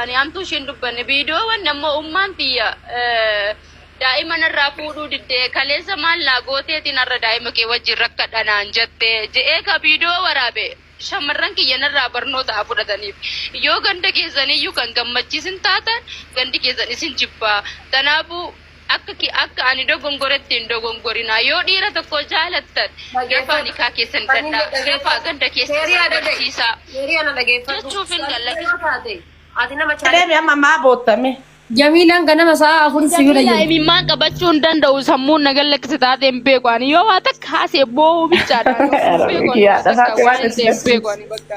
Ani hamtuu ishiin dubbanne viidiyoowwan ammoo ummaan tiyya daa'ima narraa fuudhuu didde kaleessa maal naa gooteetiin har'a daa'ima kee wajjin rakkadha naan jette je'ee ka viidiyoo waraabe shamarran kiyya narraa barnoota haa fudhataniif yoo ganda keessaniyyuu kan gammachiisin taatan gandi keessan isin jibba tanaafuu Akka ki akka ani dogongoretti hin dogongorinaa yoo dhiira tokko jaalattan dafaa nikaa keessan hidhadhaa dafaa gadda keessan agarsiisaa jechuufin gallakisa. Deemi amma maa bootta mee. Jamiilaan ganama sa'a afuritti si bira Jamiilaa jirti. imimmaan qabachuu hin danda'u sammuun na gallakkise taatee hin beeku ani yoo waa takka haasee boo'uu bichaadha ani of hin beeku ani Yaa, waan takka takka waan waan hin ta'e hin itti beeku ani bakka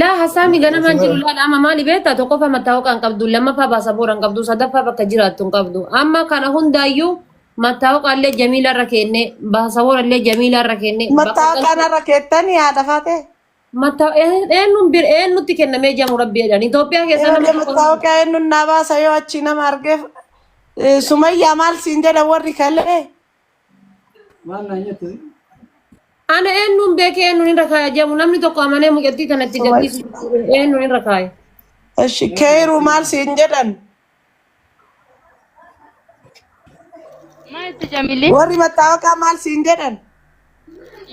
Laa hasaami Ati ganamaan jiru bara laala amma maali beektaa tokkoffaa mattaawaqaa hin qabdu lammaffaa baasaboora hin qabdu sadaffaa bakka jiraattu hin qabdu amma kana hundaayyuu mattaawaqaa illee jamiila irra keenne baasaboora illee jamiila irra keenne bakka mataa galtu kanarra keettanii haadha faatee. mattaa eenyuun bir eenyutti kennamee jamu rabbi jedhan Itoophiyaa keessa nama Eeyyee tokko mataa okaa eenyuun naa baasa yoo achii nama argeef. Eh, Sumayyaa maal siin jedha warri kalee. Maal naa nyatte? Ana eenyuun beekee eenyuun irra kaaya jedhamu namni tokko amanee mucattii kanatti gadhiisu eenyuun irra kaaya. Eshi keeru maal siin jedhan Maal itti jamilli? warri mattaawaqaa maal siin jedhan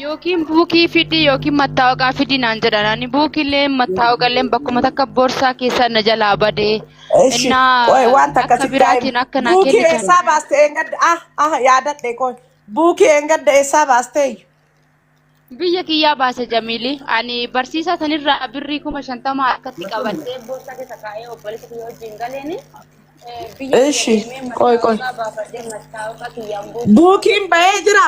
Yookiin buukii fidii yookiin mattaawaqaa fidii naan jedhan. Ani buukiillee mattaawaqallee bakkuma takka borsaa keessaa na jalaa badee. Eshi, Innaa qoy wanta akka akkasi biraatiin akka naa Buukii kennitan. eessaa baaste eengadda? Ah, ah, yaadadhe qoy. Buukii eengadda eessaa baasteeyyu? Biyya kiyyaa baase Jamiili. Ani barsiisaa sanirraa birrii kuma shantama harkatti qabadhee borsaa keessa kaa'ee obboleessa kiyya wajjin galeeni. eh, Biyya kiyya Eshi, deemee qoy qoy. mattaawaqaa baafadhee mattaawaqaa kiyyaan buukii Buukiin bahee jira.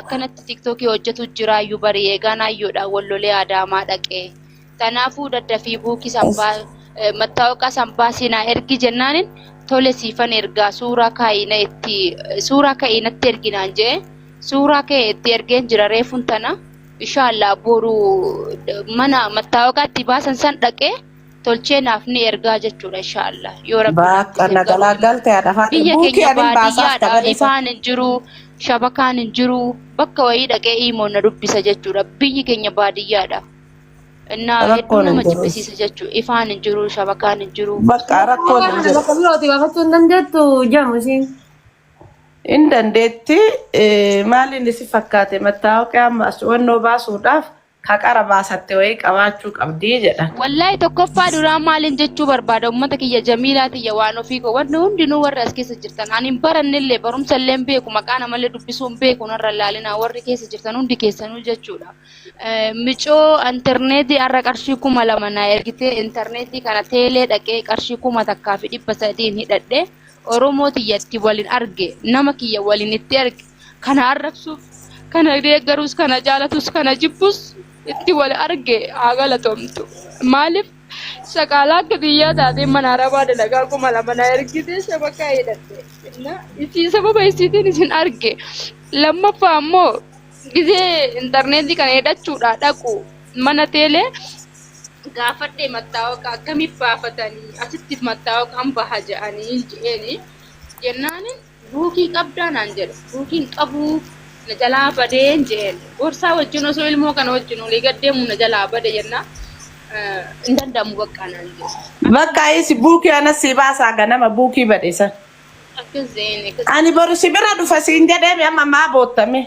akkanatti tiktookii hojjetu jira ayyu bari eegaan ayyuudha wallolee adaamaa dhaqee tanaafuu daddafii buukii sambaa mattaawaqaa sambaa siinaa ergi jennaanin tole siifan ergaa suuraa kaa'ina itti suuraa ka'iinatti erginaan jee suuraa ka'e itti ergeen jira reefun tana inshaallaa boru mana mattaawaqaa itti baasan san dhaqee tolchee naaf ni ergaa jechuudha insha Allah yoo rabbi naaf Baakka dhiise na garuu galaagalte haadha Faaxir. biyya Buukii keenya anin baasaaf baadiyyaadha tabade isa. ifaan hin jiru shabakaan hin jiru bakka wayii dhaqee iimoon na dubbisa jechuudha biyyi keenya baadiyyaadha innaa hedduu Rakkoon hin nama jiru. jibbisiisa jechuudha ifaan hin jiru shabakaan hin jiru Bakka rakkoon hin jiru. Bakka birooti baafachuu hin dandeettu jamu ishiin. Hin dandeetti eh, maaliin isi fakkaate mattaawaqee amma as wannoo baasuudhaaf Ka qara baasatte wayii qabaachuu qabdi jedhan. Wallahi tokkoffaa duraa maalin jechuu barbaada ummata kiyya jamiilaa tiyya waan ofii koo wanni hundinuu warri as keessa jirtan ani hin barannellee barumsallee hin beeku maqaa namallee dubbisuu hin beeku narra hin laalinaa warri keessa jirtan hundi keessanuu jechuudha micoo interneetii har'a qarshii kuma lama naa ergitee interneetii kana teelee dhaqee qarshii kuma takkaa fi dhibba sadiin hidhadhee oromoo tiyya itti walin arge nama kiyya walin itti arge kana arrabsuuf kana deeggarus kana jaalatus kana jibbus itti wal arge haa galatoomtu maaliif saqaalaa akka biyyaa taatee mana arabaa dalagaa kuma lama na ergite shabaqaa hidhatte na isii sababa isiitiin isin arge lammaffaa ammoo gizee intarneetii kana hidhachuudhaa dhaqu mana teelee gaafadhe mattaawqa akkamiif baafatanii asitti mattaawqaan baha jedhanii je'eeni jennaanin Buukii qabdaa naan jedhe. Buukii hin qabu na jalaa badeen jeen. Boorsaa wajjin osoo ilmoo kana wajjin olii gad deemu na jalaa bade jennaa hin danda'amu baqqaa naan jedhe. Bakka isi buukii anas sii baasaa ganama buukii bade san. Akkas jeen akkas. Ani boru si bira dhufa siin jedheemi amma maa bootta mee.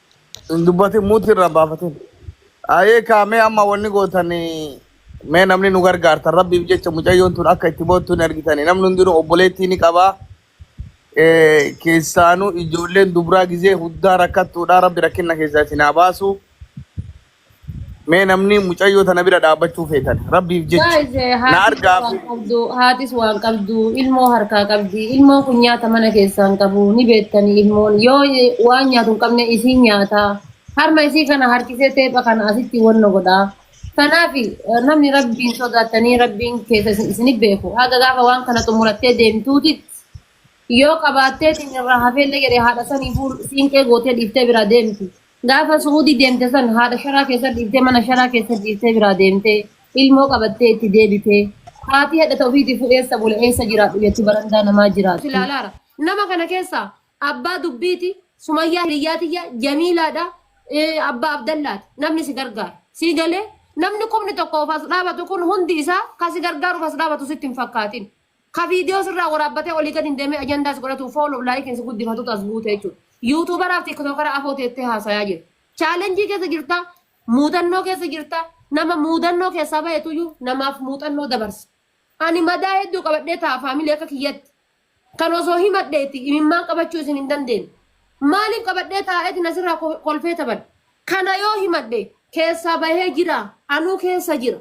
Hin dubbatin muutii irraa baafatin. Ayee kaamee amma wanni gootan mee namni nu gargaartan rabbiif jecha mucayyoon tun akka itti boottu hin argitani. Namni hundinuu obboleettii ni qaba. Eh, Keessaanuu ijoolleen dubraa gizee huddaa rakkattuudha. Rabbi rakkinna keessaa isin haa baasu. Mee namni mucayyoo tana bira dhaabbachuu feetan rabbiif jecha Guys, eh, na haatis argaa waan fi qabdu, haatis waan qabdu, ilmoo harkaa qabdi. Ilmoon kun nyaata mana keessaa hin qabu. Ni beektani ilmoon yoo eh, waan nyaatu hin qabne isiin nyaata. Harma isii kana harkisee teepha kana asitti wanno godha. Kanaaf eh, namni rabbiin sodaatanii rabbiin keessa isin isin hin beeku. Haga gaafa waan kana xumurattee deemtuuti yoo qabaattee isin irraa hafeellee jedhee haadha sanii fuul siinqee gootee dhiiftee biraa deemti. Gaafa su'uudii deemte san haadha sharaa keessa dhiiftee mana sharaa keessa ciistee biraa deemtee ilmoo qabattee itti deebitee haati hadha ta ofiitiifuu eessa bula eessa jiraadhu jetti barandaa namaa jiraatti. ilaalaara. Nama kana keessaa abbaa dubbiiti, sumayyaa hiriyyaa tiyya, jamiilaadha, eh, abbaa abdallaati. Namni si gargaara. Sii galee? Namni kumni tokkoof as dhaabatu kun hundi isaa ka si gargaaruuf as dhaabatu sitti hin fakkaatin. Ka viidiyoo sirraa waraabbatee olii gad hin deemee ajandaa si godhatu fooloof laayikiin si guddifatutu as buute jechuudha. Yuutuubaraaf tiiktookara afoo teettee haasayaa jirta. Chaalenjii keessa jirta, muudannoo keessa jirta, nama muudannoo keessaa bahetuyyuu namaaf muuxannoo dabarsa. Ani madaa hedduu qabadhee ta'a faamilee akka kiyyatti. Kan osoo himadheeti imimmaan qabachuu isin hin dandeenye. Maaliin qabadhee taa'eeti na sirraa kolfee taphadha. Kana yoo himadhe keessaa bahee jira, anuu keessa jira.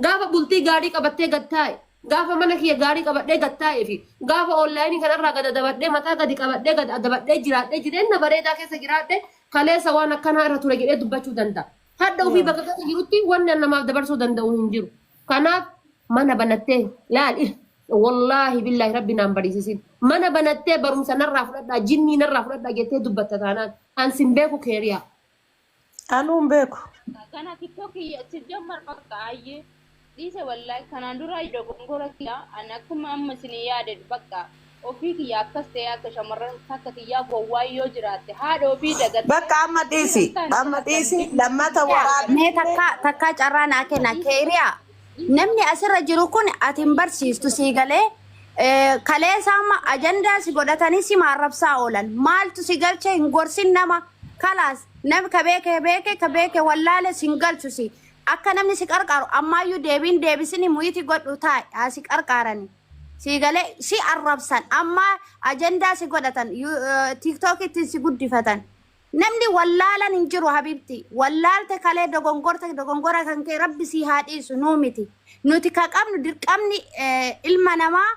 Gaafa bultii gaarii qabattee gad taa'e, gaafa mana kiyya gaarii qabadhee gad taa'ee fi gaafa online kana irraa gad adabadhee mataa gadi qabadhee gad adabadhee jiraadhee jireenna bareedaa keessa jiraadhe kaleessa waan akkanaa irra ture jedhee dubbachuu danda'a. Hadha ofii bakka keessa jirutti wanni an namaaf dabarsuu danda'u hin jiru. Kanaaf mana banattee laal il wallaahi billaahi rabbi naan bariisisin mana banattee barumsa narraa fudhadhaa jinnii narraa fudhadhaa jettee dubbatta taanaan an sin beeku keeriyaa. Anuu hin beeku. Kana TikTok sijjammar bakka ayyee dhiise wallahi kanaan duraa iyyuu dogongora kiyya ani akkuma amma isin yaade bakka ofii kiyya akkas ta'e akka shamarran takka kiyyaa gowwaa yoo jiraatte haadha ofii dagattee Bakka amma dhiisi. Amma dhiisi. Lammata waraabbii. Mee takkaa takkaa carraa naa kenna keeriyaa Namni asirra jiru kun ati hin barsiistu sii galee eh, kaleessa amma ajandaa si godhatanii si maarrabsaa oolan. Maaltu si galche hin gorsin nama. Kalaas nami ka beeke beeke ka beeke wallaale sin galchu si. Akka namni si qarqaaru ammaayyuu deebiin deebisini muyiti godhu taa'i haa si qarqaarani. Si galee si arrabsan amma ajandaa si godhatan tiiktookittiin si guddifatan. Namni wallaalan hin jiru habibti wallaalte kalee dogongorte dogongora kan kee rabbi sii haa dhiisu nuu miti nuti ka qabnu dirqamni ilma namaa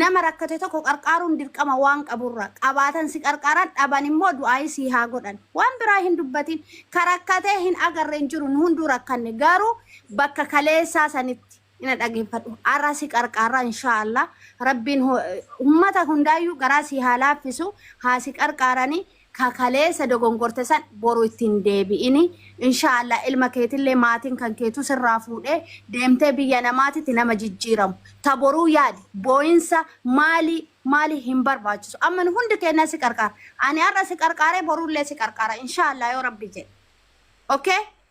nama rakkate tokko qarqaaruun dirqama waan qaburra qabaatan si qarqaaran dhaban immoo du'aayii sii haa godhan waan biraa hin dubbatin ka rakkatee hin agarre hin jiru nu hunduu rakkanne garuu bakka kaleessaa sanitti ina dhagefadhu arra si qarqaarra inshaa allah rabbiin ummata hundaayyuu garaa sii haa laaffisu haa si qarqaarani ka kaleessa dogongorte san boru itti hin deebi'ini inshaa allah ilma keetillee maatiin kan keetu sirraa fuudhee deemtee biyya namaatitti nama jijjiiramu ta boruu yaadi booyinsa maalii maalii hin barbaachisu amma nu hundi keennaa si qarqaara ani arra si qarqaaree borullee si qarqaara inshaa allah yoo rabbi jedhe ok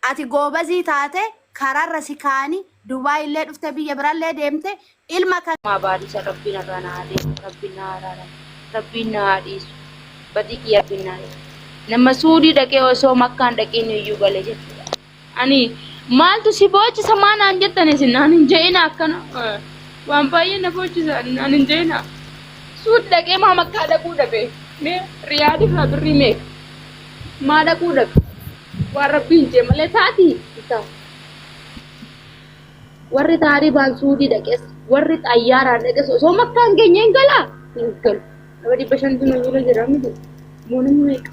ati goobazii taate kararra si kaani dubai illee dhufte biyya birallee deemte ilma kan Maa baadisa rabbiin irraa naa deemu rabbiin naa araaramu rabbiin naa haa dhiisu badii kiyya rabbiin naa dhiisu nama suudii dhaqee osoo makkaan dhaqiin iyyuu gale jechuudha ani maaltu si boochisa maa naan jettan isin naan hin je'ina akkana waan baay'ee na boochisa ani naan hin je'ina suud dhaqee maa makkaa dhaquu dhabe mee riyaadii faa birrii meeqa Maa dhaquu dhaqu. Waan rabbii hin jee malee taati hin taatu. Warri taaribaan suudii dhaqes warri xayyaaraan dhaqes osoo makkaa hin geenye hin galaa hin galu. Nama dhibba shantu nu bira jira miti. Immoo namni meeqa?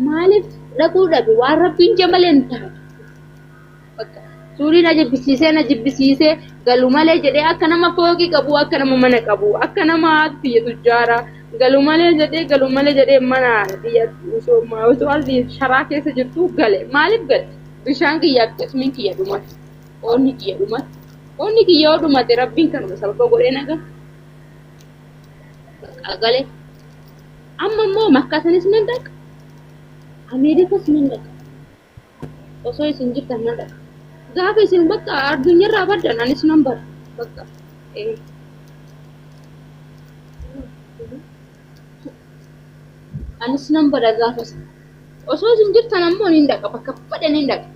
Maaliif dhaquu dhabe waan rabbii hin jee malee hin taatu. Bakka suurii na jibbisiisee na jibbisiisee galu malee jedhee akka nama fooqii qabu akka nama mana qabu akka nama biyya tujjaara galu malee jedhee galu malee jedhee mana biyya osoo osoo ardi sharaa keessa jirtu gale maaliif gale bishaan kiyya akkasumin kiyya dhumate qoonni kiyya dhumate qoonni kiyya yoo dhumate rabbiin kanuma sababa godhee naga bakka gale amma immoo makkaatanis nan dhaqa ameerikas nan dhaqa osoo isin jirtan nan dhaqa gaafa isin bakka addunyarraa baddan anis nan bada bakka ee anis nan bada gaafa isin osoo isin jirtan ammoo nin dhaqa bakka fedhe nin dhaqa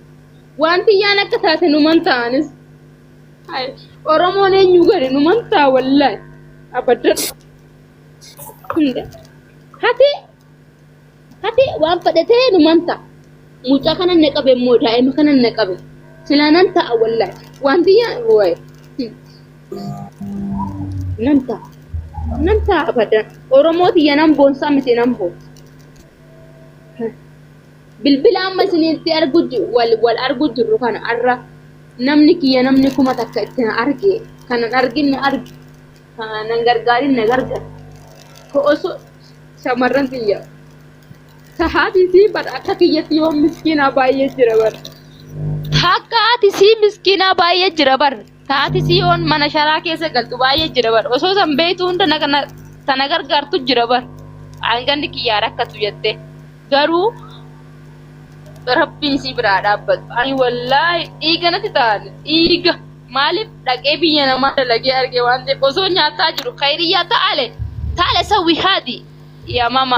wanti yaan akka taate numan ta'anis Hai, oromoon eenyu gadi numan ta'a wallahi abaddan hunda hati Hati waan fedhe ta'e numan ta'a. Mucaa kanan na qabe immoo daa'ima kanan na qabe. Silaa nan ta'a wallahi. Wanti yaa wayi. Nan ta'a. Nan ta'a abadan. Oromoo tiyya nan boonsaa miti nan boonsa. Bilbila amma isinitti argu ji- wal wal argu jirru kana har'a namni kiyya namni kuma takka itti na arge kanan argin na arge kanan gargaarin na gargara. Ko osoo shamarran tiyya sahaatiitii bar akka kiyyatti yoo miskiinaa baay'ee jira bar takka ati sii miskiinaa baay'ee jira bar taati sii oon mana sharaa keessa galtu baay'ee jira bar osoo san beeytu hunda tana gargaartu jira bar aanganni kiyyaa rakkatu jette garuu rabbiin sii biraa dhaabbatu ani wallaahi dhiiga natti ta'an dhiiga Maalif dhaqee biyya namaa dalagee arge waan ta'eef osoo nyaataa jiru khayriyyaa taale taale sawwi haadi yamama.